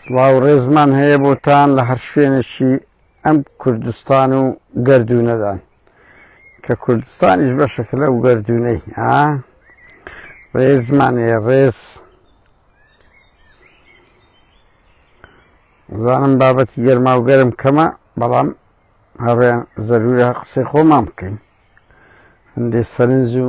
سڵاو و ڕێزمان هەیە بۆتان لە هەر شوێنێکی ئەم کوردستان و گەردوونەدان کە کوردستانیش بەشەکە لەو گەردوونەی ها ڕێزمان هەیە ڕێز زانم بابەتی گەرما و گەرم کەمە بەڵام هەڕێن زەرورە قسەی خۆمان بکەین هەندێ سەرنج و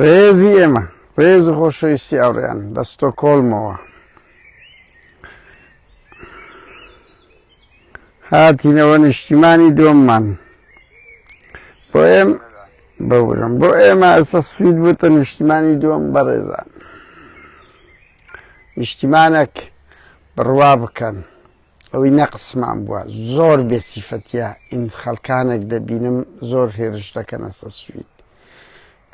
ڕێزی ئێمە ڕێز و خۆشەویستی ئەوڕێیان لە ستۆکۆڵمەوە هاتینەوە نیشتیمانی دۆممان بۆ ئێم بەورم بۆ ئێمە ئەستا سوید بووتە نیشتیمانی دووەم بەڕێزان نیشتیمانێک بڕوا بکەن ئەوەی نەقسمان بوە زۆر بێ سیفەتیە ئین خەلکانەک دەبینم زۆر هێرش دەکەنە سە سوید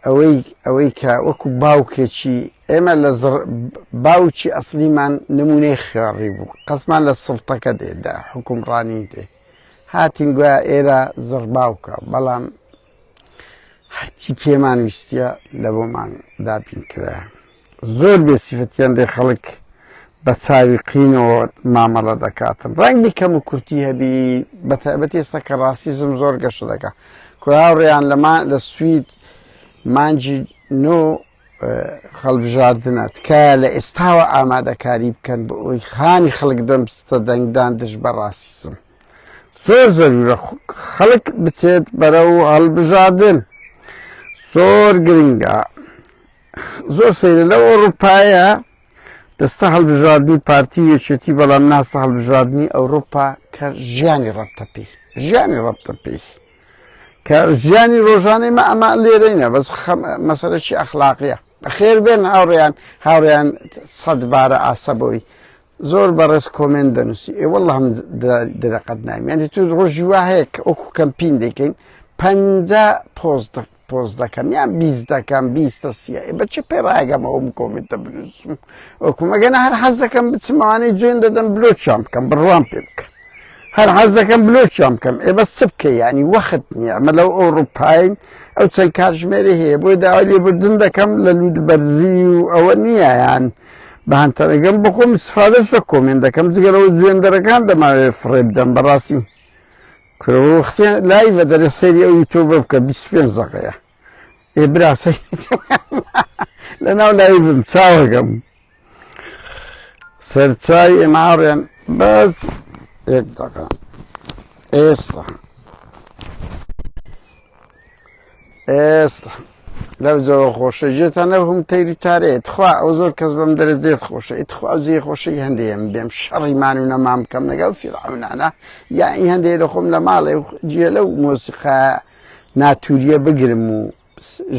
ئەوەی ئەوەی کە وەکو باوکێکی ئێمە لە باوکی ئەسلیمان نمونەی خوێڕی بوو قەسمان لە سڵتەکە دێدا حکومڕانی دێ هاتین گویا ئێرە زڕ باوکە بەڵام هەرچی پێمان ویستە لە بۆمان دابین کرا زۆر بێ سیفەتیان لێ خەڵک بە چاوی قینەوە مامەڵە دەکاتن ڕەنگی کەم و کورتی هەبی بە تایبەت ئێستا کە ڕاستیزم زۆر گەشە دەکا کوراوڕێیان لەما لە سوید مانجی نۆ خەڵبژاردنە تکایە لە ئێستاوە ئامادەکاری بکەن بۆ ئەوی خانی خەڵک دەمستە دەنگدان دژ بە ڕاستیزم زۆر زەرورە خەڵک بچێت بەرە و هەڵبژاردن زۆر گرنگە زۆر سەیرە لەو ئەوروپایە دەستە هەڵبژاردنی پارتی یەکێتی بەڵام ناستە هەڵبژاردننی ئەوروپا کە ژیانی ڕەبتە پێی ژیانی ڕەبتە پێی کە ژیانی ڕۆژانەی مە ئەمە لێرەینە بەس مەسەرەکی ئەخلاقیە بەخێر بێن هاوڕێیان هاوڕێیان سەد بارە ئاسە بۆی زۆر بەڕێز کۆمنت دەنووسی ئێ وەڵ هەم درەقەت نامیانی تو ڕۆژی وا هەیە کە ئۆکو کەمپین دەکەین پ پۆست پۆست دەکەم یان بیست دەکەم بیستە سیە بە چ پێ ڕاگەم ئەوم کۆمنتە بنووسم وەکو مەگەنە هەر حەز دەکەم بچمانەی جوێن دەدەم بلۆچیان بکەم بڕوام پێ بکەم هەر حەز دەکەم بلۆچیان بکەم ئێ بە سبکە ینی وەخت نییە ئەمە لەو ئەوروپین ئەو چەند کاتژمێری هەیە بۆی داوای لێبردن دەکەم لە لوود بەرزی و ئەوە نییە یان بەهانتەرەگەم بخۆم سفادەش لە کۆمێن دەکەم جگەرەوە جوێندەرەکان دەماوێت فڕێ بدەم بەڕاستی کورە وە وەختێ لایڤە دەرێ سەیری ئەو یوتۆبە بکە بیست و پێنج دەقەیە ئێ برا لەناو لایڤم چاوەگەم سەرچای ئێماڕێن بەس یەک دەقە ئێستا ئێست لەو جەوە خۆشە ژێتان لەو هەم تەیری تارێت خوا ئەو زۆر کەس بەم دەرە جێت خۆشە ئیت خوا جێ خۆشی هەندێم بێم شەڕی مان و نەمام بکەم لەگەڵ فیرعونانە یا ئی هەندێ لە خۆم لە ماڵێ جێ لەو مۆسیقا ناتوریە بگرم و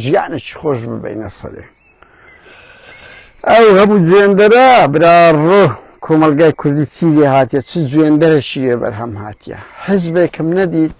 ژیانش خۆش ببینە سەرێ ئەو هەموو جوێندەرە برا ڕۆ کۆمەلگای کوردی چیێ هااتە چ جوێندەرە شیێ بەرهەم هااتە حزبێکم نەدیت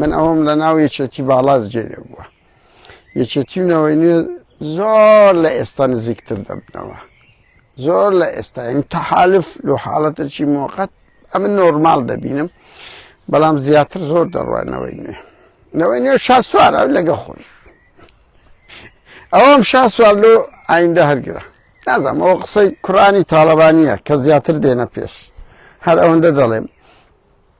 من ئەوەم لە ناو یەکێتی باڵاس جێێ بووە یەکێتی و نەوەی نوێ زۆر لە ئێستا نزیکتر دەبنەوە زۆر لە ئێستا ئەم تەحالف لە حاڵەتەکی مۆقەت ئەمە نۆرمال دەبینم بەڵام زیاتر زۆر دەڕوانەوەی نوێ نەوەی نوێ شاسوار ئەو لەگە خۆی ئەوم شاسوار لۆ ئایندە هەرگرە نازم ئەو قسەی کوڕانی تاالبانیە کە زیاتر دێنە پێش هەر ئەوەندە دەڵێم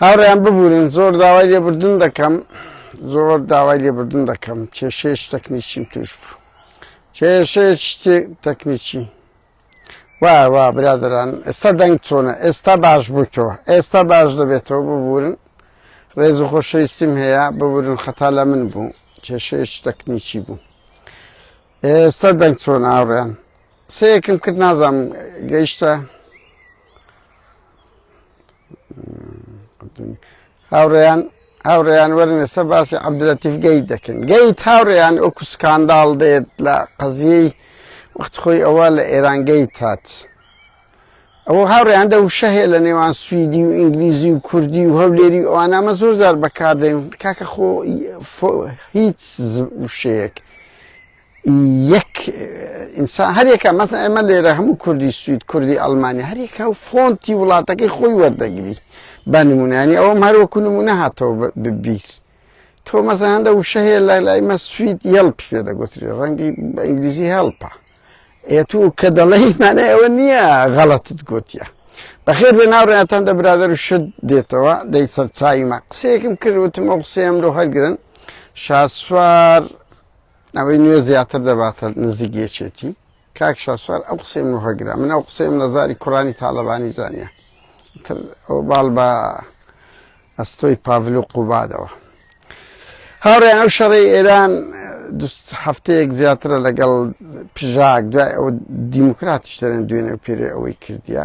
هاوڕێیان ببورن زۆر داوای لێبوردن دەکەم زۆر داوای لێبوردن دەکەم کێشەیەکی تەکنیکیم تووش بوو کێشەیەکی تەکنیکی وا وا برادران ئێستا دەنگ چۆنە ئێستا باش بوویتەوە ئێستا باش دەبێتەوە ببورن ڕێز و خۆشەویستیم هەیە ببورن خەتا لە من بوو کێشەیەکی تەکنیکی بوو ئێستا دەنگ چۆن ئاڕێن سەیەکم کرد نازانم گەیشتە هاوڕێیان هاوڕێیان وەرن ئێستا باسی عبدلەتیف گەیت دەکەن گەیت هاوڕێیان ئەو کوسکانداڵ دێت لە قەزیەی وەخت خۆی ئەوە لە ئێران گەیت هات ئەوە هاوڕێیان دە وشە هەیە لە نێوان سوئدی و ئینگلیزی و کوردی و هەولێری ئەوانامە زۆر زار بەکاردێن کاکە خۆ هیچ وشەیەک یەک ئینسان هەرێکە مەسە ئێمە لێرە هەموو کوردی سوید کوردی ئەلمانیا هەرێکە و فۆنتی وڵاتەکەی خۆی وەردەگری بە نمونانی ئەوم هەروەکو نمونە هاتەوە ببیست تۆ مەسە هەندە وشە هەیە لای لای مە سوید یەڵپ پێ دەگوتری ڕەنگی بە ئینگلیزی هەڵپە ئێ تو کە دەڵی مانە ئەوە نییە غەڵەتت گوتیە بەخێر بێ ناوڕێتان دە برادر و شت دێتەوە دەی سەرچایمە قسەیەکم کرد وتم ئەو قسەیەم لۆ هەرگرن شاسوار ئەوەی نوێ زیاتر دەباتە نزیک یەکێتی. کاک شاسوار ئەو قسەی من ڕەگرە من ئەو قسەیم لە زاری کوڕانی تاڵەبانی زانیە تر ئەو باڵ بە ئەستۆی پاڤل و قوبادەوە هاوڕێن ئەو شەڕی ئێران هەفتەیەک زیاترە لەگەڵ پژاک دوای ئەو دیموکراتیش دەرێن دوێنێ و پێرێ ئەوەی کردیە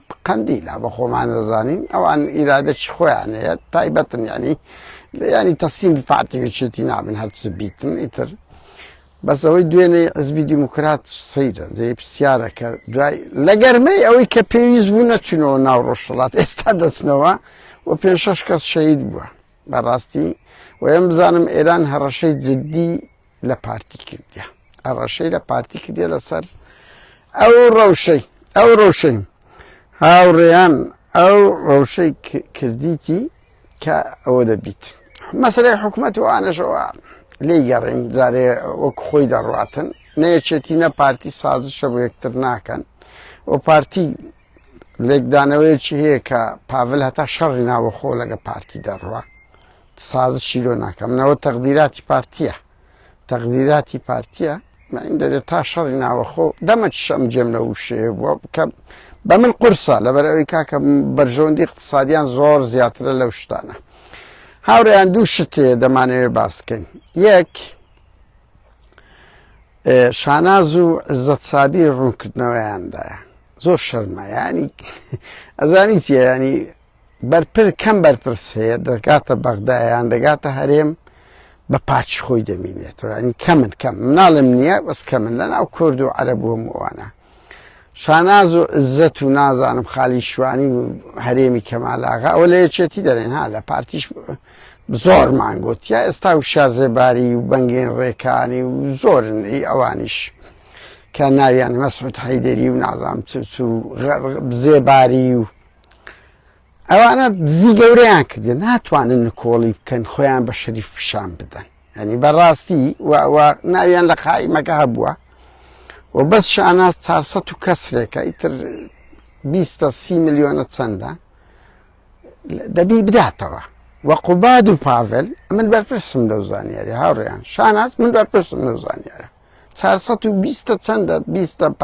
قەندیلە بە خۆمان دەزانین ئەوان ئیرادەکی خۆیان هەیە تایبەتن یعنی یعنی تەسلیم بە پارتی یەکێتی نابن هەرچ بیتن ئیتر بەس ئەوەی دوێنێ حزبی دیموکرات سەیرن جێ پرسیارەکە دوای لە گەرمەی ئەوەی کە پێویست بوو نەچونەوە ناو ڕۆژهڵات ئێستا دەچنەوە و پێ شەش کەس شەید بووە بەڕاستی وەیەم بزانم ئێران هەڕەشەی جددی لە پارتی کردە هەڕەشەی لە پارتی کردە لەسەر ئەو ڕەوشەی ئەو ڕەوشەی هاوڕێیان ئەو ڕەوشەی کردیتی کە ئەوە دەبیت مەسلەی حکوومەت و ئانەشەوە لی گەڕین جارێ وەک خۆی دەڕاتن نەیەچێتی نە پارتی سازشە بۆ یەکتر ناکەن و پارتی لێکدانەوەیەکی هەیە کە پاڤل هەتا شەڕی ناوەخۆ لەگە پارتی دەڕوا سازشی لۆ ناکەم نەوە تەقدیراتی پارتیە تەقدیراتی پارتیە من دەێت تا شەڕی ناوەخۆ دەمە شەم جێم لە وشێ کە بە من قورسە لەبەر ئەوی کاکە بەرژەوەندی اقتصادیان زۆر زیاترە لەو شتانە هاوریان دوو شتێ دەمانەوێ باسکەین یەک شاناز و عزەت سابیر ڕوونکردنەوەیاندایە زۆر شەرمە ینی ئەزانی چیە ینی بەرپر کەم بەرپرس هەیە دەگاتە بەغدایان دەگاتە هەرێم بە پاچی خۆی دەمینێتەوە ینی کەمن کەم مناڵم نییە بەس کەمن لە ناو کرد و عەرە بووم ئەوانە شاناز و عزەت و نازانم خالی شوانی و هەرێمی کەمالاغا ئەوە لە یەکێتی دەرێن ها لە پارتیش زۆر مانگوت یا ئێستا و شارزێباری و بەنگێن ڕێکانی و زۆرن ئی ئەوانیش کە ناویان مەسعود حەیدەری و نازام چ و زێباری و ئەوانە دزی گەورەیان کردێن ناتوانن نکۆڵی بکەن خۆیان بە شەریف پیشان بدەن یانی بەڕاستی و و ناویان لە قائیمەکە هەبووە و بەس شاناز چار سە و کەسرێکە ئیتر بیستە سی ملیۆنە چەندە دەبی بداتەوە و قوباد و پاڤل من بەرپرسم لەو زانیاری هاوڕێیان شاناز من بەرپرسم لەو زانیارە چار سە و بیستە چەندە بیستە پ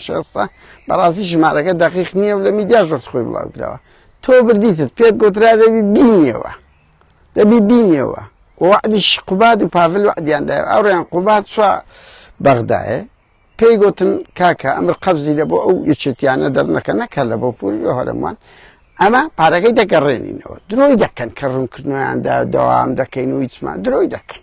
شێستە بەڕاستی ژمارەکە دەقیق نییە و لە میدیا ژۆرت خۆی بڵاوکراوە تۆ بردیتت پێت گۆترا دەبی بینیەوە دەبی بینیەوە وەعدیش قوباد و پاڤل وەعدیان دایەوە ئەوڕێیان قوباد سوا بەغدایە پێی گوتن کاکە ئەمر قەبزی لە بۆ ئەو یەکێتیانە دەرنەکە نەکە لە بۆ پوری لە هەرموان ئەمە پارەکەی دەگەڕێنینەوە درۆی دەکەن کە ڕوونکردنیاندا دەوام دەکەین و هیچمان درۆی دەکەن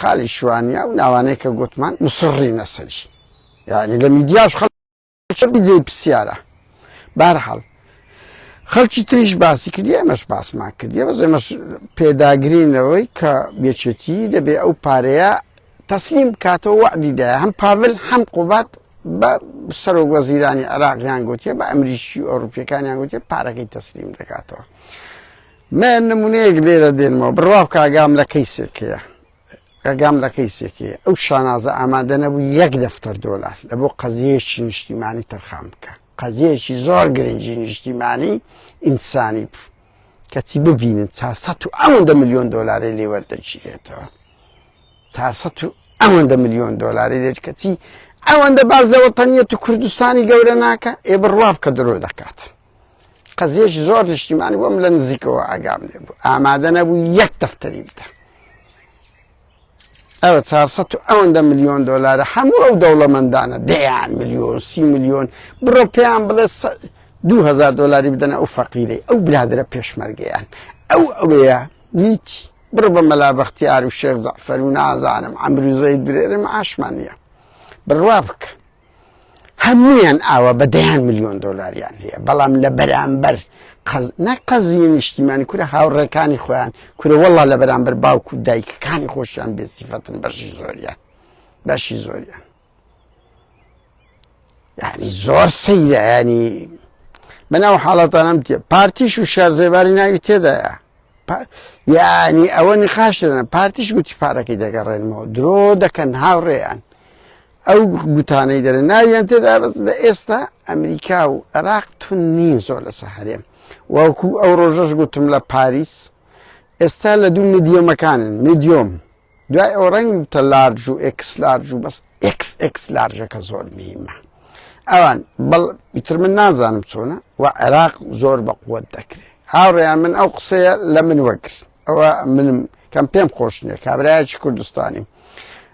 خالی شوانیا و ناوانەی کە گوتمان مسڕی نەسەری یعنی لە میدیاش خەڵ بجێ پرسیارە بارحاڵ خەڵکی تریش باسی کردی ئەمەش باسمان کردی بەس ئەمەش پێداگرینەوەی کە بێچێتی دەبێ ئەو پارەیە تەسلیم کاتەوە وعدیدا هەم پاول هەم قوبات بە سەرۆک وەزیرانی عراقیان گوتیە بە ئەمریکی ئەوروپیەکانیان گوتیە پارەکەی تەسلیم دەکاتەوە. من نمونەیەک لێرە دێنمەوە بڕوا بکە ئاگام لە کەیسێک هەیە ئەگام لە کەیسێکی ئەو شانازە ئامادە نەبوو یەک دەفتەر دۆلار لە بۆ قەزیەکی نیشتیمانی تەرخان بکە قەزیەکی زۆر گرنگی نیشتیمانی ئینسانی بوو کەچی ببینن 400 و ئەوەندە میلیۆن دۆلاری لێ وەردەگیرێتەوە 400 و ئەوەندە میلیۆن دۆلاری لێت کەچی ئەوەندە باز لە وەتەنیەت و کوردستانی گەورە ناکە ئێ بڕوا بکە درۆ دەکات. قەزیەش زۆر نیشتیمانی بۆم لە نزیکەوە ئاگام لێ بوو ئامادە نەبوو یەک دەفتەری بدە ئەوە 400 و ئەوەندە میلیۆن دلارە هەموو ئەو دەوڵەمەندانە دەیان میلیۆن سی میلیۆن بڕۆ پێیان بڵێ 2000 دلاری بدەنە ئەو فەقیرەی ئەو برادرە پێشمەرگیان ئەو ئەوەیە هیچ بڕ بە مەلا بەختیار و شێخ زەفەر و نازانم ئەمروزەی درێرم ئاشمانە بڕوا بکە هەموویان ئاوا بە دەیان ملیۆن دۆلاریان هەیە بەڵام لە بەرامبەر نەقەزیە نیشتیمانی کورە هاوڕێکانی خۆیان کورە وەڵا لە بەرامبەر باوک و دایکەکانی خۆشیان بێسیفەتن بەشی زۆریان بەشی زۆریان یعنی زۆر سەیرانی بەناو حاڵەتانم تێ پارتیش و شارزێباری ناوی تێدایە یعنی ئەوە نقاش دەن پارتیش گوتی پارەکەی دەگەڕێنەوە درۆ دەکەن هاوڕێیان ئەو گوتانەی دەرێ ناویان تێدا بەس لە ئێستا ئەمریکا و عێراق تون نین زۆر لەسەر هەرێم وەکو ئەو ڕۆژەش گوتم لە پاریس ئێستا لە دوو میدیۆمەکانن میدیۆم دوای ئەو ڕنگ تە لارج و ئکس لارج و بەس ئکس ئکس لارجەکە زۆر میمە ئەوان بەڵ ئیتر من نازانم چۆنە و عێراق زۆر بە قوت دەکرێت هاوڕێیان من ئەو قسەیە لە من وەگر ئەوە منم کەم پێم خۆشنیە کابراایکی کوردستانیم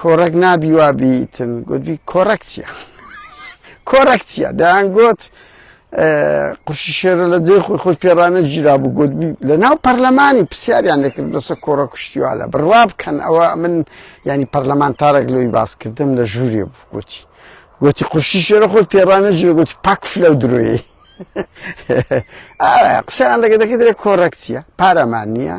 کۆڕەک نابی وا بیتم گوتبی کۆڕەک چیە کۆڕەک چیە دەیان گوت قورشی شێرە لە جێ خۆی خۆی پێڕانە ژیرا بوو گوت لە ناو پەرلەمانی پرسیاریان دەکرد بەسە کۆڕە کوشتیوالە بڕوا بکەن ئەوە من ینی پەرلەمانتارێک لۆی باسکردم لە ژووری بوو گوتی گوتی قورشی شێرە خۆی پێڕانە ژێ گوتی پاکف لەو درۆیی قسەیان لەگە دەکە درێ کۆڕەکسیە پارەمان نییە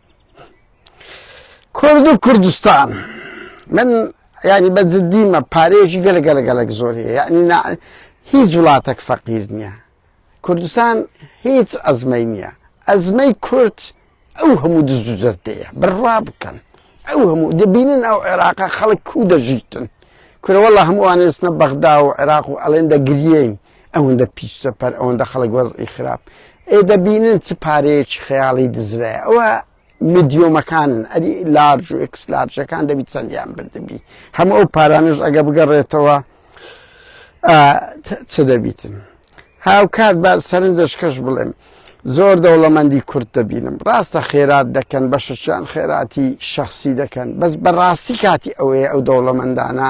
کورد و کوردستان من ینی بە جددیمە پارێژی گەلە گەلە گەلک زۆری یعنی هیچ وڵاتەك فەقیر نییە کوردستان هیچ ئەزمەی نییە ئەزمەی کورد ئەو هەموو دز و زەردەیە بڕوا بکەن ئەو هەموو دەبینن ئەو عێراقا خەڵک کو دەژیتن کورەوەڵە هەمووانێستنە بەغدا و عێراق و ئەلێن دەگرین ئەوەندە پیس چەپەر ئەوەندە خەڵک وەزعی خراپ ئێ دەبینن چ پارەیەکی خەیاڵی دزرای ئەوە میدیۆمەکانن ئەری لارج و ئکس لارجەکان دەبی چەندیان بردبی هەموو ئەو پارانش ئەگە بگەڕێتەوە چ دەبیتن هاوکات بە سەرنجەشکەش بڵێم زۆر دەوڵەمەندی کورت دەبینم ڕاستە خێرات دەکەن بە شەشیان خێراتی شخصی دەکەن بەس بەڕاستی کاتی ئەوەیە ئەو دەوڵەمەندانە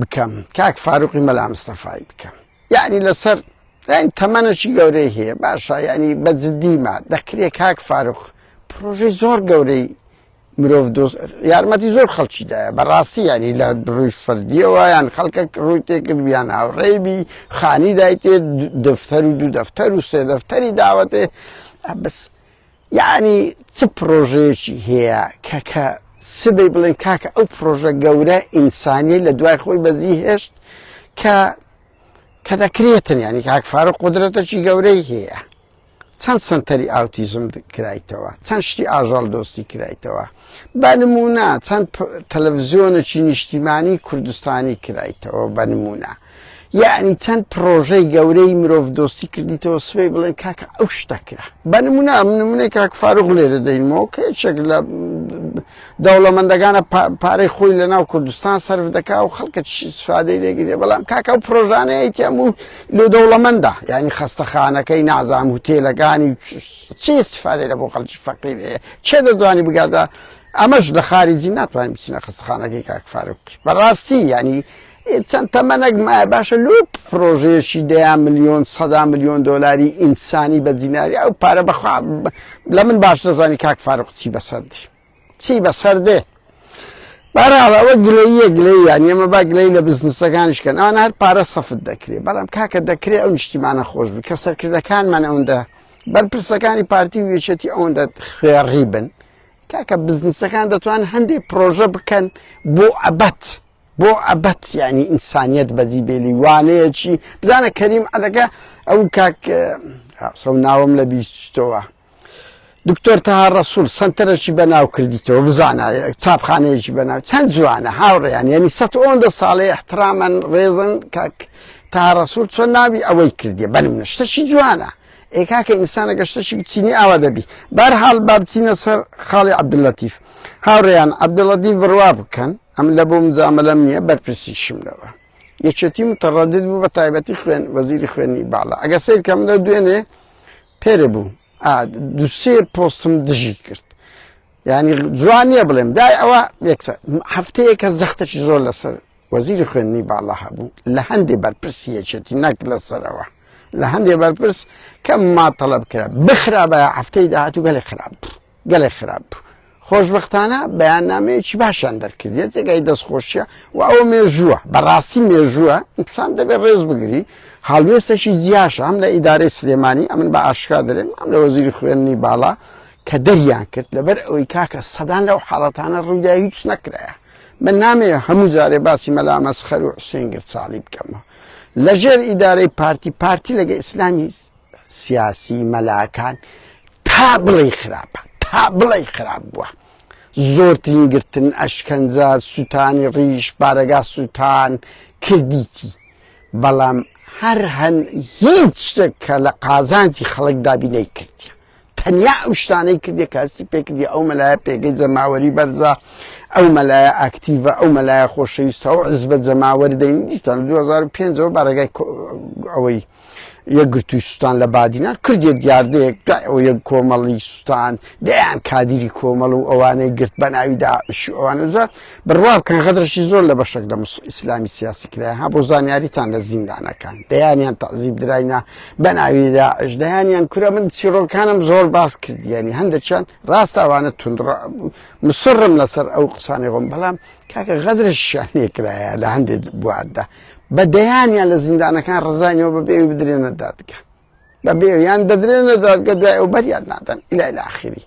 بکەم کاک فاروقی مەلامستەفای بکەم یعنی لەسەر یعنی تەمەەشی گەورەی هەیە باشە ینی بە جددیما دەکرێت کاک فاروق پرۆژەی زۆر گەورەی مرۆڤ دۆست یارمەتی زۆر خەڵکیدایە بەڕاستی ینی لە ڕووی فردیەوە یان خەڵکە ڕووی تێکردویان هاوڕێبی خانی دایتێ دەفتەر و دوو دەفتەر و سێ دەفتەری داوەتێ بەس یەعنی چ پڕۆژەیەکی هەیە کە کە سبەی بڵێن کاکە ئەو پڕۆژە گەورە ئینسانیە لە دوای خۆی بەجی هێشت کە کە دەکرێتن یعنی کاک فارو قدرەتەکی گەورەی هەیە چەند سنتەری ئاوتیزم کرایتەوە چەند شتی ئاژەڵ دۆستی کرایتەوە بە نمونە چەند تەلەڤزیۆنەکی نیشتیمانی کوردستانی کرایتەوە بە نمونە یەعنی چەند پڕۆژەی گەورەی مرۆڤ دۆستی کردیتەوە سبەی بڵێن کاکە ئەو شتە کرا بە نمونە ئەم نمونەی کاک فاروق لێرە دەینمەوە کە یەکێک لە دەوڵەمەندەکانە پارەی خۆی لە ناو کوردستان سرف دەکا و خەڵکە سفادەی لێگرێ بەڵام کاکە و پرۆژانەیە تێم و لۆ دەوڵەمەندە یعنی خەستەخانەکەی نازام و تێلەکانی چی سفادەی لە بۆ خەڵکی فەقیر هەیە چێ دەدوانی بگاتە ئەمەش لە خارجی ناتوانین بچینە خەستخانەکەی کاک فاروق بەڕاستی ینی هی چەند تەمەنەک مایە باشە لۆ پرۆژەیەکی دەیان ملیۆن سەدا ملیۆن دۆلاری ئینسانی بە دیناری ئەو پارە بەخوا لە من باش دەزانی کاک فاروق چی بەسەردی چی بەسەردێ بەراڵەوە گلەیە گلەی یان ئێمە با گلەی لە بزنسەکانش کەن ئەوان هەر پارە سەفت دەکرێت بەڵام کاکە دەکرێت ئەو نیشتیمانە خۆش بوو کە سەرکردەکانمان ئەوەندە بەرپرسەکانی پارتی و یەکێتی ئەوەندە خوێڕی بن کاکە بزنسەکان دەتوان هەندێک پرۆژە بکەن بۆ ئەبەت بۆ ئەبەد یانی ئینسانیەت بەجی بێلی وانەیەکی بزانە کەریم عەدەکە ئەو کاک سەو ناوم لە بیستەوە دکتۆر تەها ڕسول سنتەرەکی بەناو کردیتەوە بزانە چاپخانەیەکی بەناو چەند جوانە هاوڕێیان یعنی سە ئەوەندە ساڵێ احترامەن ڕێزن کاک تا ڕسول چۆن ناوی ئەوەی کردی بەنم نشتەکی جوانە ئێکاکە ئینسانە گەشتەکی بچینی ئاوا دەبی بارحاڵ با بچینە سەر خاڵی عبدللەتیف هاوڕێیان عبدڵەدی بڕوا بکەن ئەم لە بۆ مجامەلەم نییە بەرپرسیشم لەوە یەکێتی متەڕەدد بوو بە تایبەتی خوێن وەزیری خوێنی باڵا ئەگە سیرکەم لە دوێنێ پێرە بوو دوسێ پۆستم دژی کرد ینی جوان نییە بڵێم دای ئەوە یەکسە هەفتەیەکە زەختەش زۆر لەسەر وەزیری خوێنی باڵا هەبوو لە هەندێ بەرپرسی یەکێتی نەک لەسەرەوە لە هەندێ بەرپرس کەم ما تەڵب کرا بخرا بە هەفتەی داهاتوو گەلێک خراپ بوو گەلێک خراپ بوو. خۆشبەختانە بەیاننامەیەکی باشیان دەرکردێت جێگای دەستخۆشیە و ئەوە مێژووە بەڕاستی مێژووە ئینسان دەبێت ڕێز بگری هاڵوێستەکی جیاش ئەم لە ئیدارەی سلێمانی ئەمن بە ئاشکا دەێن ئەم لە وەزیری خوێنی باڵا کە دەریان کرد لەبەر ئەوەی کاکە سەدان لەو حاڵەتانە ڕوودا هیچ نەکرایە من نامێ هەموو جارێ باسی مەلامەس خەر و حسێنگر ساڵی بکەمەوە لەژێر ئیدارەی پارتی پارتی لەگە ئیسلامی سیاسی مەلاکان تا بڵێی خراپە تا بڵێی خراپ بووە زۆرترین گرتن ئەشکەنجە سووتانی ڕیش بارەگا سووتان کردیتی بەڵام هەر هەن هیچ شتێک کە لە قازانجی خەڵک دابی نەیکردە تەنیا ئەو شتانەی کردێ کاسی پێکردی ئەو مەلایە پێگەی جەماوەری بەرزە ئەو مەلایە ئاکتیڤە ئەو مەلایە خۆشەویستە و عزبە جەماوەر دەین دیتان 2005ەوە بارەگای ئەوەی یەکگرتووی سوستان لە بادینان کردێک دیاردەیەک دوای ئەو یەک کۆمەڵی سوستان دەیان کادیری کۆمەڵ و ئەوانەی گرت بە ناوی داعش ئەوانەزار بڕوا بکەن غەدرەکی زۆر لە بەشەک لە مس ئیسلامی سیاسی کرایە ها بۆ زانیاریتان لە زیندانەکان دەیانیان تەعزیب دراینە بە ناوی داعش دەیانیان کورە من چیڕۆکانم زۆر باس کردیانی هەندێکیان ڕاست ئەوانە توندڕا بوو مسڕم لەسەر ئەو قسانی خۆم بەڵام کاکە غەدرەشیان لێ کرایە لە هەندێک بواردا بە دەیانیان لە زیندانەکان ڕزانیەوە بە بێوی بدرێنە دادگە بە بێویان دەدرێنە دادگە دوای ئەو بەریان نادەن ئیلا لە ئاخری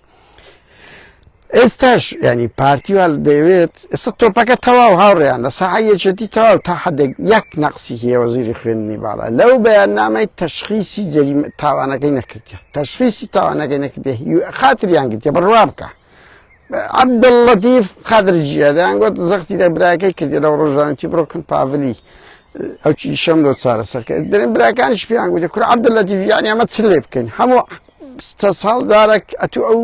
ئێستاش ینی پارتیوال دەیەوێت ئێستا تۆپەکە تەواو هاوڕێیان لە سەعە یەکێتی تەواو تا حدێک یەک نەقسی هێوەزیری خوێندنی باڵە لەو بەیان نامای تەشخیسی جەری تاوانەکەی نەکردە تەشخیسی تاوانەکەی نەکردێ خاتریان گرتێ بڕوا بکە عەبدوللەتیف قادر جیە دەیان گوت زەختی لە براکەی کردی لەو ڕۆژانتی بڕۆکن پاڤلی ئەو چیشەم لۆ چارە سەرکە دەێن براکانیش پێیان گوتی کورە عەبدوللەتیف یانی ئەمە چ لێ بکەین هەموو ساڵ جارێک ئەتو ئەو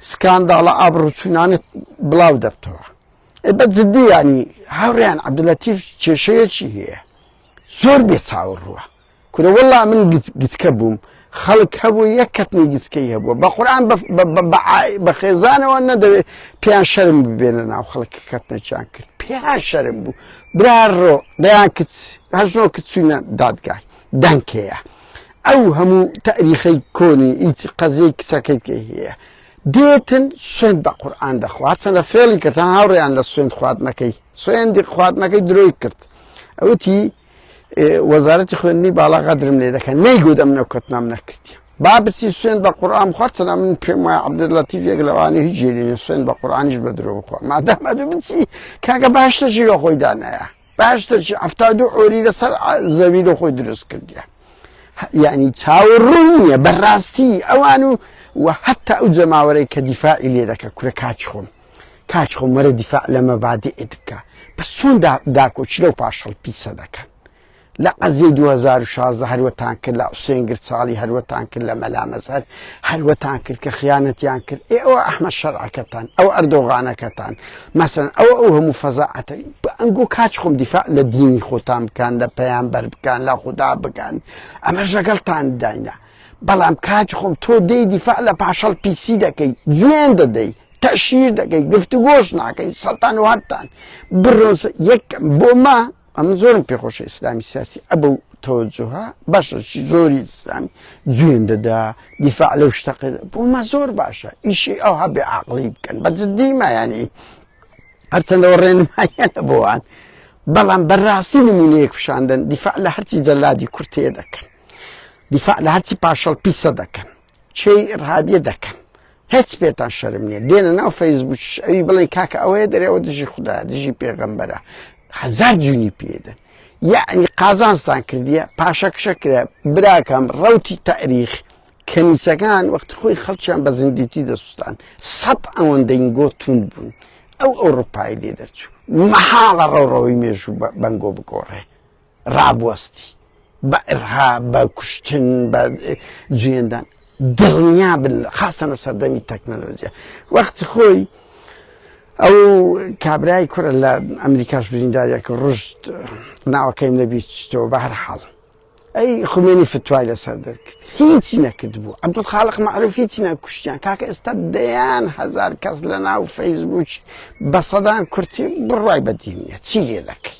سکانداڵە ئابڕوچوونانت بڵاو دەبتەوە بە جددی ینی هاوڕیان عەبدولەتیف کێشەیەکی هەیە زۆر بێ چاوەڕوە کورە وەڵا من گچکە بووم خەڵک هەبوو یەک کەتنی گچکەی هەبووە بە قورآن بە خێزانەوە نەدەوێت پێیان شەرم ببێنە ناو خەڵک کەتنەچیان کرد پێیان شەرم بوو براڕۆ دەیان کچ هەژنۆ کچوینە دادگای دەنکەیە ئەو هەموو تاریخەی کۆنی هیچ قەزیەی کچەکەیت کە هەیە دێتن سوێن بە قورآان دەخوات چەندە فێڵی کردان هاوڕێیان لە سوێن خواردنەکەی سوێندی خواردنەکەی درۆی کرد ئەوتی وەزارەتی خوێندنی باڵا غەدرم لێ دەکەن نەیگوت ئەم نەوکەتنام نەکردی با بچی سوێن بە قورآان خۆتەنا من پێم وایە عبدلەتی یەک لەوانی هیچ جێرینە سوێن بە قورآانیش بە درۆ بخۆ مادەمە دوو بچی کاکە باشتە ژیرە خۆی دانایە باشتە چی ئەفتا دوو ئۆری لەسەر زەوی لە خۆی دروست کردیە یعنی چاوەڕوون نییە بەڕاستی ئەوان و و حتا ئەو جەماوەرەی کە دیفاعی لێ دەکە کورە کاچ خۆم کاچ خۆ مەرە دیفاع لە مەبادئت بکە بەس چۆن داکۆکی لەو پاشەڵ پیسە دەکەن لە عەزیەی 2016 هەروەتان کرد لە حوسێن گرچاڵی هەروەتان کرد لە مەلا مەزهەر هەروەتان کرد کە خیانەتیان کرد ئێ ئەوە ئەحمە شەرعەکەتان ئەو ئەردۆغانەکەتان مەسەن ئەو ئەو هەموو فەزاعەتە ئەنگۆ کاچ خۆم دیفاع لە دینی خۆتان بکەن لە پەیامبەر بکەن لە خوددا بکەن ئەمە ژەگەڵتان داینە بەڵام کاج خۆم تۆ دێی دیفاع لە پاشەڵ پیسی دەکەی جوێن دەدەی تەشیر دەکەی گفتوگۆش ناکەی سەتان و هەتان بڕۆن یەک بۆ ما ئەم زۆرم پێخۆشە ئیسلامی سیاسی ئەبە و تەوەجوها بەشەشی زۆری ئیسلامی جوێن دەدا دیفاع لەو شتەقە بۆ ما زۆر باشە ئیشی ئەو هەبێ عقلی بکەن بە جددی مایانی هەرچەندەوە ڕێنمایانە بۆوان بەڵام بەڕاستی نمونەیەک پیشاندن دیفاع لە هەرچی جەلادی کورتەیە دەکەن دیفاع لە هەرچی پاشەڵ پیسە دەکەن چێی ڕابیە دەکەن هیچ پێتان شەرم نییە دێنە ناو فەیسبووش ئەوی بڵێن کاکە ئەوەیە دەرەوە دژی خوددا دژی پێغەمبەرە هزار جوونی پێدەن یعنی قازانستان کردیە پاشەکشە کرا براکەم ڕوتی تاریخ کەنیسەکان وەخت خۆی خەڵکیان بە زندیتی دەسوستان سەد ئەوەندەین گۆتون بوون ئەو ئەوروپای لێ دەرچوو مەحاڵە ڕەوڕەوەی مێژوو بەنگۆ بگۆڕێ ڕابوەستی بە ئرها بە کوشتن بە جوێندان دڵنیا بن خاستەنە سەردەمی تەکنەلۆجیە وەختی خۆی ئەو کابرای کورە لە ئەمریکاش بریندارێکە ڕژت ناوەکەیم نەبیت چتەوە بە هەر حاڵ ئەی خومێنی فتوای لەسەر دەرکرد هیچی نەکرد بوو عبدول خاڵق معروف هیچی نەکوشتیان کاکە ئێستا دەیان هزار کەس لە ناو فەیسبووک بە سەدان کورتی بڕای بەدینە چی لێ دەکەی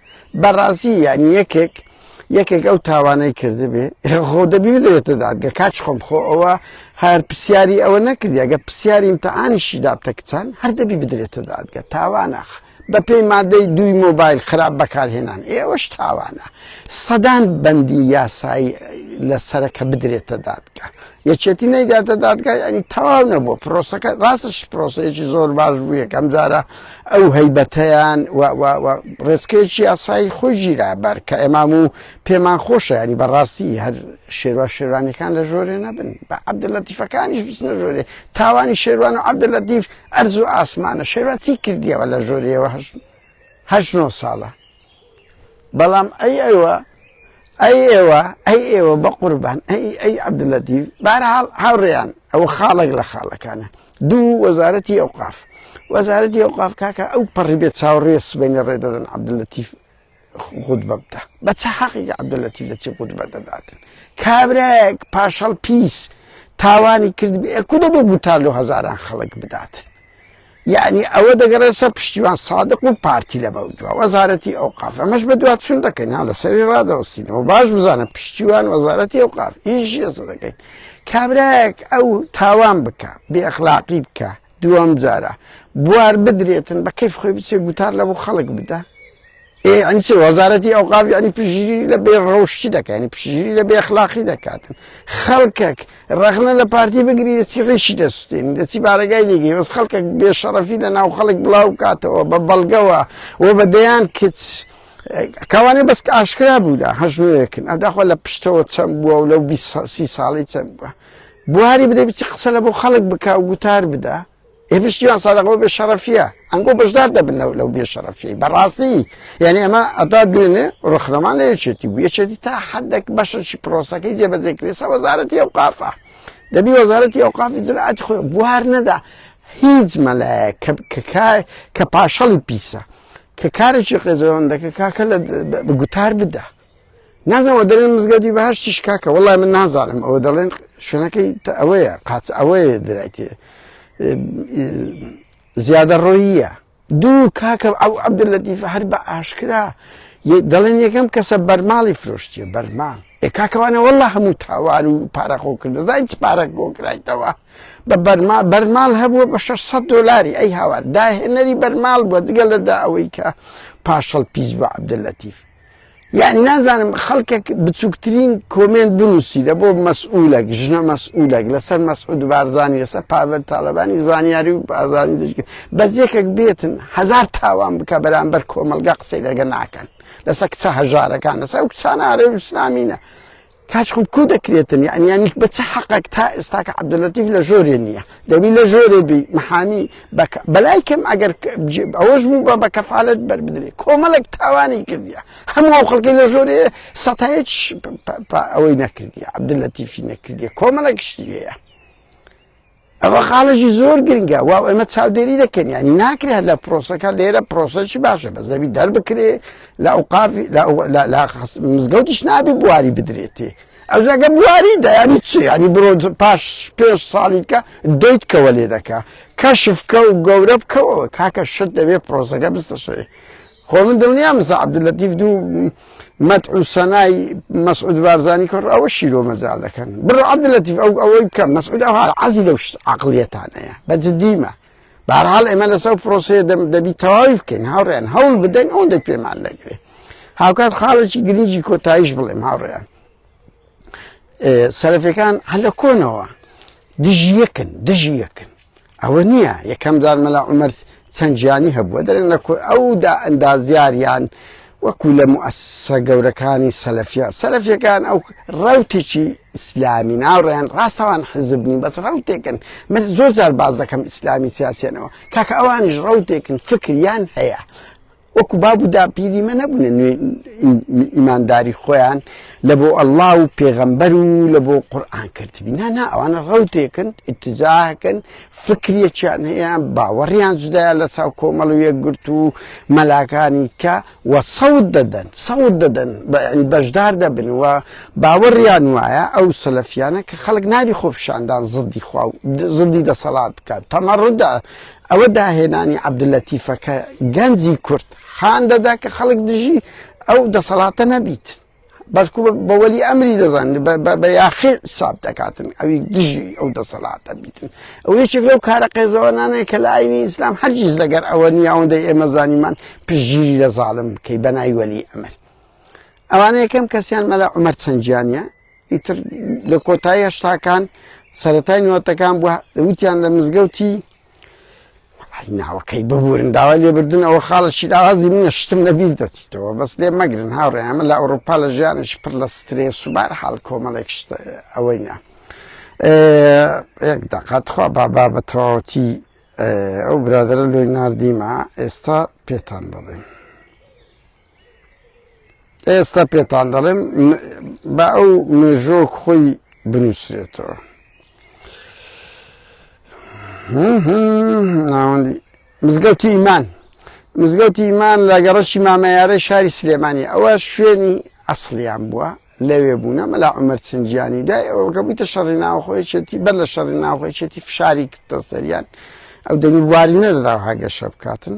بەڕازی یان یەکێک یەکێک ئەو تاوانەی کردبێ خۆ دەبی بدرێتە دادگە کاچ خۆم خۆ ئەوە هەر پرسیاری ئەوە نەکردی ئەگە پرسیاری امتحانیشی دابتە کچان هەر دەبی بدرێتە دادگە تاوانەخ بە پێی مادەی دوی مۆبایل خراپ بەکارهێنان ئێوەش تاوانە سەدان بەندی یاسایی لە سەرەکە بدرێتە دادگە یەکێتی نەیداتە دادگای ئەنی تەواو نەبوو پرۆسەکە ڕاستش پرۆسەیەکی زۆر باش بوو یەکەم جارە ئەو هەیبەتەیان ڕێسکێکی یاسایی خۆی ژیرا بەر کە ئێمام و پێمان خۆشە ینی بەڕاستی هەر شێروا شێرانەکان لە ژۆرێ نەبن بە عبدە لە تیفەکانیش بچنە ژۆرێ تاوانی شێروان و عبدە لە دیف ئەرز و ئاسمانە شێروا چی کردیەوە لە ژۆریەوە هەشت هەشت نۆ ساڵە بەڵام ئەی ئێوە ئەی ئێوە ئەی ئێوە بە قوربان ئەی ئەی عبدلەتی بارحاڵ هاوڕێیان ئەوە خاڵک لە خاڵەکانە دوو وەزارەتی ئەوقاف وەزارەتی ئەوقاف کاکە ئەو پەڕی بێت چاوڕێ سبینە ڕێدەدەن عبدلەتی خود بەبدا بە چ حەقی عبدلەتی دەچی خود بە دەداتن کابراەک پاشەڵ پیس تاوانی کرد کودە بێ گوتار لە هزاران خەڵک بداتن یەعنی ئەوە دەگەڕێت سەر پشتیوان سادق و پارتی لەمەودوا وەزارەتی ئەوقاف ئەمەش بەدوادچون دەکەین ها لەسەری ڕادەوەستینەوە باش بزانە پشتیوان وەزارەتی ئەوقاف ئیش یەسە دەکەین کابراەک ئەو تاوان بکە بێخلاقی بکە دووەم جارە بوار بدرێتن بە کەیف خۆی بچێ گوتار لە بۆ خەڵک بدە ئێ ئەنی چ وەزارەتی ئەوقاف یعنی پشگیری لە بێ ڕەوشتی دەکە ینی پشگیری لە بێخلاقی دەکاتن خەڵکەک ڕەخنە لە پارتی بگری دەچی ڕیشی دەستین دەچی بارەگای دیگەی وەس خەڵکە بێ شەڕەفی لە ناو خەڵک بڵاو کاتەوە بە بەڵگەوە و بە دەیان کچ کاوانێ بەس ئاشکرا بوودا هەژنوەکن ئەداخوا لە پشتەوە چەند بووە و لەو سی ساڵی چەند بووە بواری بدە بچی قسە لە بۆ خەڵک بک و گوتار بدە ئێ پشتیوان سادق بۆ بێ شەڕەفیە ئەنگۆ بەشدار دەبن لەو لەو بێ شەڕەفی بەڕاستی یعنی ئەمە ئەدا دوێنێ ڕخنەمان لە یەکێتی بوو یەکێتی تا حدێک بەشەشی پرۆسەکەی جێبەجێکرێسە وەزارەتی ئەو قافە دەبی وەزارەتی ئەو قافی زراعەتی خۆی بوار نەدا هیچ مەلایە کە پاشەڵی پیسە کە کارێکی قێزەوەندەکە کاکە لە گوتار بدە نازەوە دەڵێن مزگەوتی بەهشتیش کاکە وڵای من نازانم ئەوە دەڵێن شوێنەکەی ئەوەیە قاچ ئەوەیە درایتێ زیادە ڕۆیە دوو کاکە ئەو عبد لە دیفە هەر بە ئاشکرا دەڵێن یەکەم کەسە بەرماڵی فرۆشتیە بەرماڵ کاکەوانە والله هەموو تاوان و پارەخۆکرد دەزای چ پارەک گۆکرایتەوە بە بەرما بەرماڵ هەبووە بە 600 دلاری ئەی هاوار داهێنەری بەرماڵ بووە جگە لەدا ئەوەی کە پاشەڵ پیس بە عبدلەتیف یان نازانم خەڵکێک بچووکترین کۆمێنت بنووسی لە بۆ مەسئولەک ژنە مەسئولەک لەسەر مەسعود بارزانانی لەسەر پاڤل تاالبانی زانیاری و بازانی دژ بەس یەکێک بێتن هزار تاوان بکە بەرامبەر کۆمەلگا قسەی لەگە ناکەن لەسەر کچە هەژارەکان لەسەر کچانە ئارێ اسلامینە کاچ خۆ کو دەکرێتن یعنی یعنی بە چ حەقەک تا ئێستاکە عبدلەتیف لە ژۆرێ نییە دەبی لە ژۆرێ بی محامی بەلای کەم ئەگەر ئەوەش بوو بە بە کەفاالت بەربدرێ کۆمەڵک تاوانی کردیە هەموو ئەو خەڵکی لە ژۆرێ سەتایج ئەوەی نەکردیە عبدلەتیفی نەکردیە کۆمەڵک شتی هەیە ئەوە خاڵێکی زۆر گرنگە واو ئێمە چاودێری دەکەین ینی ناکرێت لە پرۆسەکە لێرە پرۆسەکی باشە بە زەوی دەربکرێ لە ئەوقاف مزگەوتیش نابی بواری بدرێتێ ئەوزەگە بواری دەیانی چی ینی برۆ پاش پێ ساڵیکە دەیت کەوە لێ دەکە کەشفکە و گەورە بکەوە کاکە شت دەبێت پرۆسەکە بستەشێ خۆ من دڵنیام مستە عەبدولەتیف دوو مەدح و سەنای مەسعود بارزانی کڕ ئەوە شیرۆ مەجال دەکەن بڕۆ عەبدولەتیف ئەو ئەوەی بکەم مەسعود ئەوها عەزی لەو عەقڵیەتانەیە بە جدیمە بارحال ئێمە لەسەر پرۆسەیە دەبی تەواوی بکەین هاوڕێن هەوڵ بدەین ئەوەندەی پێمان دەگرێ هاوکات خاڵێکی گرنگی کۆتاییش بڵێم هاوڕێیان سەرفەکان هەلە کۆنەوە دژیەکن دژیەکن ئەوە نییە یەکەم جار مەلا عمر چەند گیانی هەبووە دەرێن لە ئەودا ئەندازیاریان وەکو لە موسسە گەورەکانی سەلفیا سەلفیەکان ئەو ڕوتێکی ئیسلامی ناوڕێن ڕاستەوان حزب نین بەس ڕوتێکن من زۆر جار باز دەکەم ئیسلامی سیاسیانەوە کاکە ئەوانش ڕوتێکن فکریان هەیە وەکو باب و داپیری مە نەبوونە نوێ ئیمانداری خۆیان لە بۆ ئەللا و پێغەمبەر و لە بۆ قورآان کردبی نانا ئەوانە ڕوتێکن ئتجاکن فکرێکیان هەیە باوەڕیان جدایە لە چاو کۆمەڵ و یەکگرت و مەلاکانی کە وە سەوت دەدەن سەوت دەدەن بەشدار دەبن و باوەڕیان وایە ئەو سەلەفیانە کە خەڵک ناری خۆپشاندان زدی خوا زدی دەسەڵات بکات تەمەڕدا ئەوە داهێنانی عەبدولەتیفە کە گەنجی کورد هان دەدا کە خەڵک دژی ئەو دەسەڵاتە نەبیت، بەڵکو بە وەلی ئەمری دەزانن، بە یاخی حساب دەکاتن ئەوی دژی ئەو دەسەڵاتە بیتن. ئەوە یەکێک لەو کارە قێزەوەنانەیە کە لە ئایینی ئیسلام هەرگیز لەگەر ئەوە نییە ئەوەندەی ئێمە زانیمان پشتگیری لە زاڵم بکەی بە ناوی وەلی ئەمر. ئەوانە یەکەم کەسیان مەلا عومەر چەنگیانە، ئیتر لە کۆتایی هەشتاکان سەتای نوتەکان بووە وتیان لە مزگەوتی ناوەکەی ببورن داوا لێبردن ئەوە خاڵە شیراوازی منە شتم لەبیز دەچیتەوە بەس لێ مەگرن هاوڕێ ئەمە لە ئەوروپا لە ژیانش پر لە سترێ سوبار حال کۆمەڵێک ئەوەی نە داقاتخوا بابا بە تەواوەتی ئەو برادرە لۆی نردیمە ئێستا پێتان دەڵێن. ئێستا پێتان دەڵێم بە ئەو مێژۆک خۆی بنووسرێتەوە ناوەندی مزگەوتی ئیمان مزگەوتی ئیمان لە گەڕەکی مامەیارەی شاری سلێمانی ئەوە شوێنی ئەسلیان بووە لەوێ بوونە مەلا عمر چنجیانی دای ئەوکە بوویتە شەڕی ناوخۆیچێتی بەر لە شەڕی ناوخۆیچێتی فشاری کردە سەریان ئەو دەنی بواری نەدەدا هەگەشە بکاتن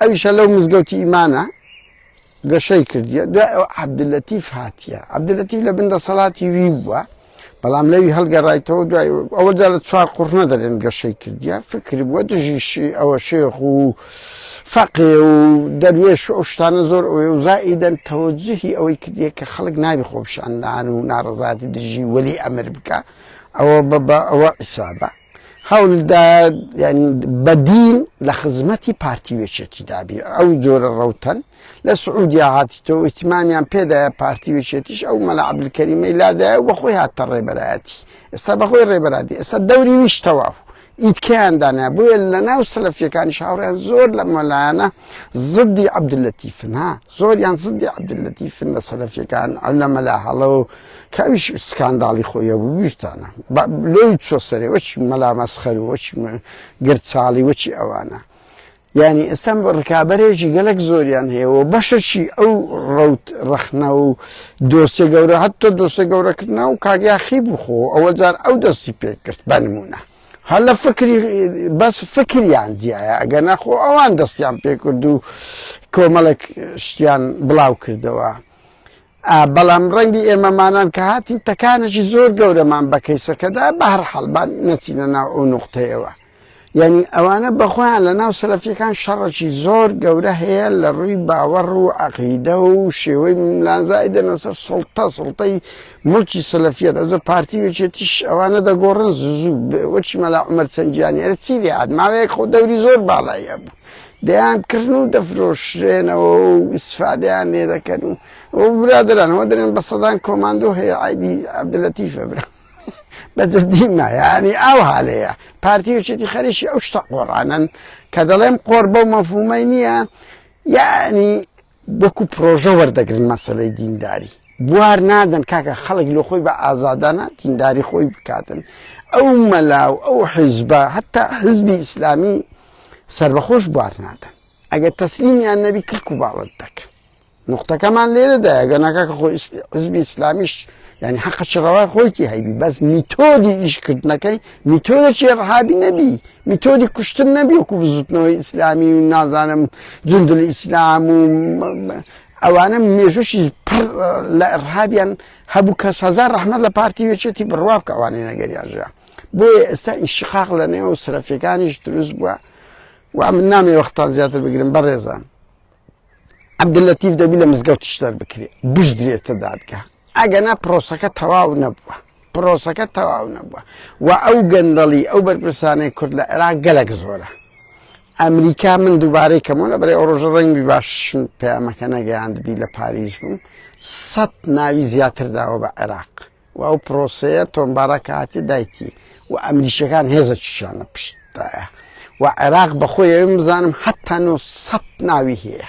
ئەویشە لەو مزگەوتی ئیمانە گەشەی کردیە دوای ئەو عبدلەتیف هاتیە عبدلەتیف لە بندە سەڵاتی وی بووە بەڵام لەوی هەڵگەڕایتەوە دوای ئەوە جا لە چوار قڕنە دەرێن گەشەی کردیە فکر بووە دژیشی ئەوە شێخ و فەقێ و دەروێش ئەو شتانە زۆر ئەوێ و زائیدەن تەوەجهی ئەوەی کردیە کە خەڵک ناوی خۆپشاندان و ناڕزاتی دژی وەلی ئەمر بکە ئەوە بە ئەوە ئیسابە هەولداد یعنی بەدین لە خزمەتی پارتی وێچێتی دابی ئەو جۆرە ڕوتەن لە سعودیا هاتی تۆ ئیتمامیان پێدایە پارتی وێچێتیش ئەو مەلا عبلکەریمەی لادایە و بەخۆی هاتە ڕێبەرایەتی ئێستا بەخۆی ڕێبەرادی ئێستا دەوری ویش تەواو ئیتکەیان دانە بۆیە لە ناو سەلەفیەکانی شاوڕیان زۆر لە مەلایەنە زدی عبدلەتیفنا زۆریان زدی عبدلەتیفن لە سەلەفیەکان ئەو لە مەلا هەڵە و کامیش سکانداڵی خۆی هەبوو بیرتانە با لۆی چۆ سەرێ وەچی مەلا مەسخەر و وەچی گرچاڵی وەچی ئەوانە یعنی ئێستا بە ڕکابەرێکی گەلک زۆریان هەیە و بەشەشی ئەو ڕوت ڕەخنە و دۆسێ گەورە هەتە دۆسێ گەورەکردنا و کاگیاخی بخۆ ئەوە جار ئەو دەستی پێکرد بە نمونە هەر لە فکری بەس فکریان جیایە ئەگەر نەخۆ ئەوان دەستیان پێکرد و کۆمەڵێک شتیان بڵاو کردەوە بەڵام ڕەنگبی ئێمەمانان کە هاتین تەکانێکی زۆر گەورەمان بە کەیسەکەدا بە هەر حەڵبان نەچینە ناو ئەو نقطەیەوە یعنی ئەوانە بەخۆیان لە ناو سەلەفیەکان شەڕەکی زۆر گەورە هەیە لە ڕووی باوەڕ و عقیدە و شێوەی ملانزای دەنەسە سڵتە سڵتەی ملکی سەلەفیە دەزە پارتی وێچێتیش ئەوانە دەگۆڕن زوو وەچی مەلا عمر چەندیانی ئەرە چی لێ عاد ماوەیەک خۆ دەوری زۆر باڵایە بوو دەیانکڕن و دەفرۆشرێنەوە و ئیستفادەیان لێ دەکەن و ئەوە برادەران ئەوە دەرێن بە سەدان کۆماندۆ هەیە عایدی عەبدولەتیفە برا بە جدی مایانی ئاو هالەیە پارتی وچێتی خەریکی ئەو شتە قۆڕانن کە دەڵێم قۆڕ بەو مەفهومەی نییە یعنی وەکو پرۆژە وەردەگرن مەسەلەی دینداری بوار نادەن کاکە خەڵک لۆ خۆی بە ئازادانە دینداری خۆی بکاتن ئەو مەلا و ئەو حیزبە هەتا حزبی ئیسلامی سربەخۆش بوار نادەن ئەگەر تەسلیمیان نەبی کلک و باڵت دەکەن نقطەکەمان لێرەدایە گەناکە کە خۆی حزبی ئیسلامیش یعنی حەقە چ ڕەوای خۆیتی هەیبی بەس میتۆدی ئیشکردنەکەی میتۆدە چێ ڕحابی نەبی میتۆدی کوشتن نەبی وکو بزوتنەوەی ئیسلامی و نازانم جندل ئیسلام و ئەوانە مێژوشی پڕ لە ڕحابیان هەبوو کە سەزار ڕحمە لە پارتی وێچێتی بڕوا بکە ئەوانی نەگەریانژە بۆیە ئێستا ئینشقاق لە نێو سرەفەکانیش دروست بووە و من نامی وەختان زیاتر بگرم بەڕێزان عەبدولەتیف دەبی لە مزگەوتیش دەربکرێ بژدرێتە دادگا ئەگەنا پرۆسەکە تەواو نەبووە پرۆسەکە تەواو نەبووە و ئەو گەندەڵی ئەو بەرپرسانەی کورد لە عێراق گەلک زۆرە ئەمریکا من دووبارەی کەمەوە لە بەرەی ئۆڕۆژە ڕەنگی باش پەیامەکە نەگەیاندبی لە پاریس بووم سەد ناوی زیاتر داوە بە عێراق و ئەو پرۆسەیە تۆمبارە کە هاتی دایتی و ئەمریکیەکان هێزە چیشانە پشتایە و عێراق بەخۆی ئەوێن بزانم حتا نۆ سەد ناوی هەیە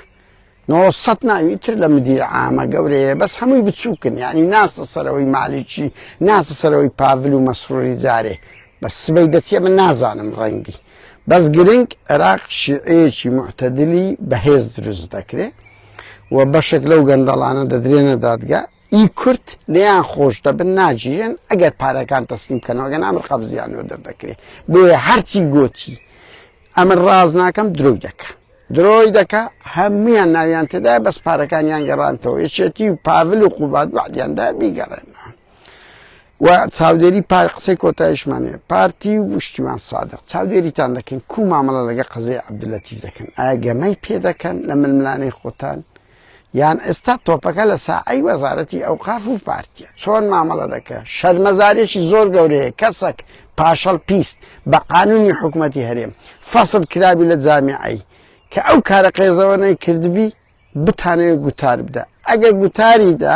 نۆ سەد ناوی تر لە مدیر عامە گەورەیە بەس هەمووی بچووکن یعنی ناسە سەرەوەی مالیکی ناسە سەرەوەی پاڤل و مەسروری جارێ بە سبەی دەچێ من نازانم ڕەنگی بەس گرنگ عێراق شیعەیەکی معتەدلی بەهێز دروست دەکرێت و بەشێک لەو گەندەڵانە دەدرێنە دادگا ی کورد لێیان خۆش دەبن ناگیرێن ئەگەر پارەکان تەسلیم بکەنەوە گەنا ئەمر قەبزیانەوە دەردەکرێت بۆیە هەرچی گۆتی ئەمە ڕاز ناکەم درۆی دەکە درۆی دەکە هەمویان ناویان تێدا بەس پارەکانیان گەڕانتەوە یەکێتی و پاڤل و قوبات وعدیاندا بیگەڕێنەوە و چاودێری پار قسەی کۆتایشمانێ پارتی و وشتیمان سادق چاودێریتان دەکەین کو مامەڵە لەگە قەزەی عبدلەتیف دەکەن ئاگەمەی پێ دەکەن لە ململانەی خۆتان یان ئێستا تۆپەکە لە ساحەی وەزارەتی ئەوقاف و پارتیە چۆن مامەڵە دەکە شەرمەزارێکی زۆر گەورەیە کەسەک پاشەڵ پیست بە قانونی حکوومەتی هەرێم فەصل کرابی لە جامیعی کە ئەو کارە قێزەوە نەی کردبی بتانەوێت گوتار بدە ئەگە گوتاریدا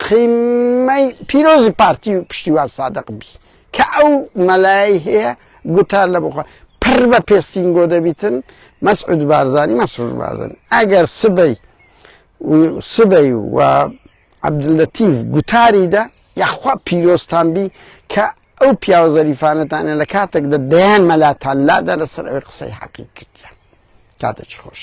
قیمەی پیرۆزی پارتی و پشتیوان سادق بی کە ئەو مەلایەی هەیە گوتار لە بخوا پڕ بە پێستینگۆ دەبیتن مەسعود بارزانی مەسرور بارزانی ئەگەر سبەی سبەی و عبدلەتیف گوتاری دا یاخوا پیرۆستان بی کە ئەو پیاوە زەریفانەتانە لە کاتێکدا دەیان مەلاتان لادا لەسەر ئەوی قسەی حەقی کردیان کاتە چ خۆش